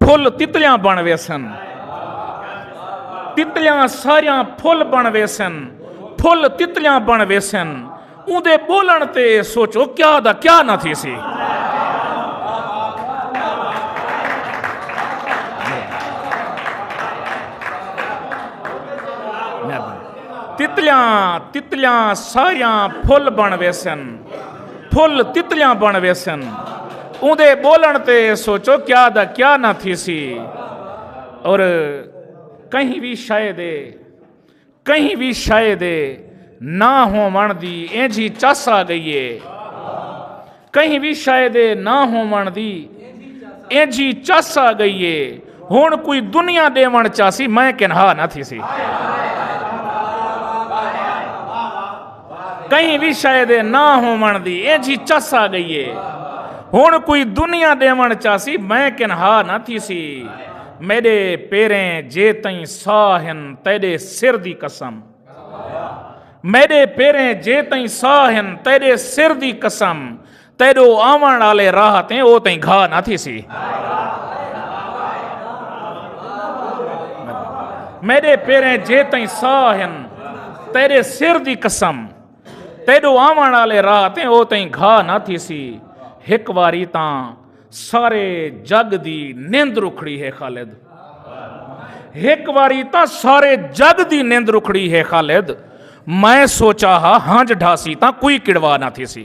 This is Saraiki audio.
پھل تتلیاں بن ویسن تتلیاں ساریاں پھل بن ویسن پھل تتلیاں بن ویسن اون دے بولن تے سوچو کیا دا کیا نہ تھی سی تتلیاں تتلیاں ساریاں پھل بن ویسن پھل تتلیاں بݨ ویسن اوندے بولن تے سوچو کیا دا کیا نہ تھی سی اور کہیں بھی شاید کہیں بھی شاید نہ ہو من دی اینجھی چس آ گئی ہے کہیں بھی شاید نہ ہو من دی اینجھی چس آ گئی ہے ہن کوئی دنیا ڈیون چاسی میں کنہا نہ تھی سی کہیں بھی شے دے نہ ہون دی اے جی چس آ گئی ہے ہن کوئی دنیا ڈیون چاسی میں کنہا نہ تھی سی میرے پیریں جے تئیں ساہن تیرے سر دی قسم میرے پیریں جے تئیں ساہن تیرے سر دی قسم تیڈو آون آلے راہ تے او تیں گھا نہ تھی سی میرے پیریں جے تیں ساہ ہن تیرے سر دی قسم تیڈو آون آلے راہ تے او تیں گھا نہ تھی سی ہک واری تاں سارے جگ دی نیند رکھڑی ہے خالد ہک واری تاں سارے جگ دی نیند رکھڑی ہے خالد میں سوچا ہا ہانج ڈھاسی تاں کوئی کڑوا نہ تھی سی